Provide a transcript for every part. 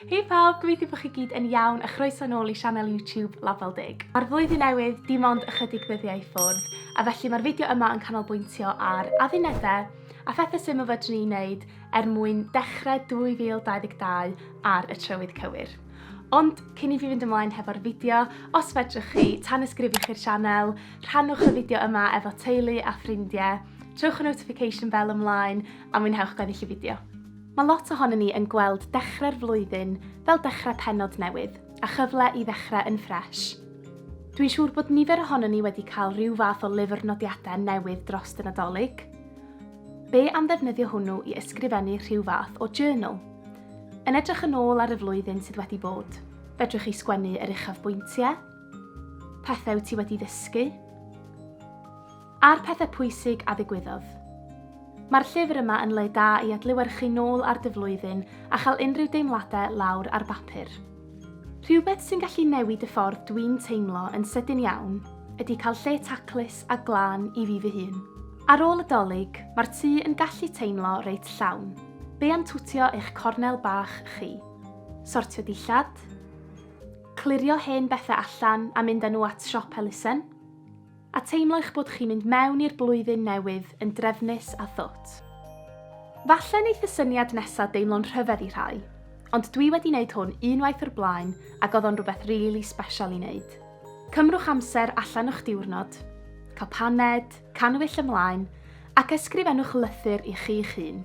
Hei pawb, gobeithio bod chi gyd yn iawn a chroeso nôl i sianel YouTube Label Dig. Mae'r flwyddyn newydd dim ond ychydig ddyddiau i ffwrdd, a felly mae'r fideo yma yn canolbwyntio ar addunedau a phethau syml fedrwn ni wneud er mwyn dechrau 2022 ar y trywydd cywir. Ond cyn i fi fynd ymlaen hefo'r fideo, os fedrwch chi, tan ysgrifwch i'r sianel, rhannwch y fideo yma efo teulu a ffrindiau, trowch y notification bell ymlaen a mwynhewch gweddill y fideo. Mae lot ohonon ni yn gweld dechrau'r flwyddyn fel dechrau pennod newydd a chyfle i ddechrau yn ffresh. Dwi'n siŵr bod nifer ohonon ni wedi cael rhyw fath o lyfr nodiadau newydd drost y Nadolig. Be am ddefnyddio hwnnw i ysgrifennu rhyw fath o journal? Yn edrych yn ôl ar y flwyddyn sydd wedi bod, fedrwch chi sgwennu yr uchafbwyntiau, pethau wyt ti wedi ddysgu, A'r pethau pwysig a ddigwyddodd. Mae'r llyfr yma yn le da i adlewyrchu nôl ar dy flwyddyn a chael unrhyw deimladau lawr ar bapur. Rhywbeth sy'n gallu newid y ffordd dwi'n teimlo yn sydyn iawn ydy cael lle taclus a glân i fi fy hun. Ar ôl y Dolig, mae'r tŷ yn gallu teimlo reit llawn. Be am twtio eich cornel bach chi? Sortio dillad? Clirio hen bethau allan a mynd â nhw at siop elusen? A teimlo eich bod chi'n mynd mewn i'r blwyddyn newydd yn drefnus a thwt. Falle wneith y syniad nesa deimlo'n rhyfedd i rhai, ond dwi wedi wneud hwn unwaith o'r blaen ac oedd o'n rhywbeth rili sbeshal i wneud. Cymrwch amser allan o'ch diwrnod, cael paned, cannwyll ymlaen, ac ysgrifennwch lythyr i chi'ch hun.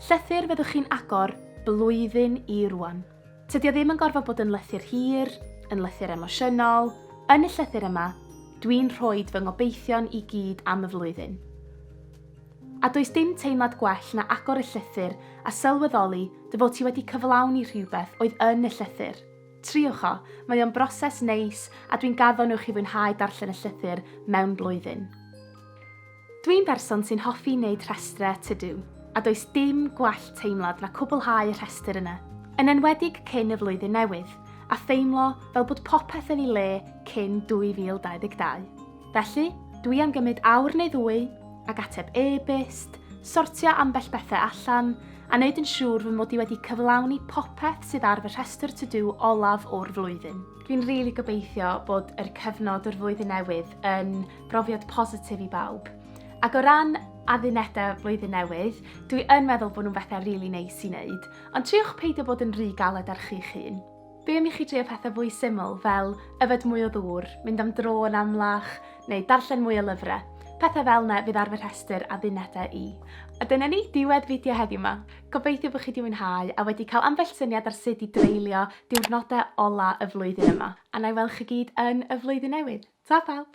Llythyr fyddwch chi'n agor blwyddyn i rwan. Tydi o ddim yn gorfod bod yn lythyr hir, yn lythyr emosiynol, yn y llythyr yma, dwi'n rhoed fy ngobeithion i gyd am y flwyddyn. A does dim teimlad gwell na agor y llythyr a sylweddoli dy fod ti wedi cyflawni rhywbeth oedd yn y llythyr. Triwch o, mae o'n broses neis a dwi'n gaddo nhw chi fwynhau darllen y llythyr mewn blwyddyn. Dwi'n berson sy'n hoffi wneud rhestrau to do, a does dim gwell teimlad na cwblhau rhestr yna, yn enwedig cyn y flwyddyn newydd, a theimlo fel bod popeth yn ei le cyn 2022. Felly, dwi am gymryd awr neu ddwy, ac ateb e-byst, sortio ambell bethau allan, a wneud yn siŵr fy mod i wedi cyflawni popeth sydd ar fy rhestr to do olaf o'r flwyddyn. Dwi'n rili gobeithio bod yr cyfnod o'r flwyddyn newydd yn brofiad positif i bawb. Ac o ran addunedau flwyddyn newydd, dwi yn meddwl bod nhw'n bethau rili really neis i wneud, ond triwch peidio bod yn rhy galed ar chi'ch hun. Be am i chi drio pethau fwy syml fel yfed mwy o ddŵr, mynd am dro yn amlach, neu darllen mwy o lyfrau? Pethau fel yna fydd ar fy rhestr a ddunedau i. A dyna ni, diwedd fideo heddiw yma. Gobeithio bod chi wedi mwynhau a wedi cael ambell syniad ar sut i dreulio diwrnodau ola y flwyddyn yma. A na i weld chi gyd yn y flwyddyn newydd. Ta pawb!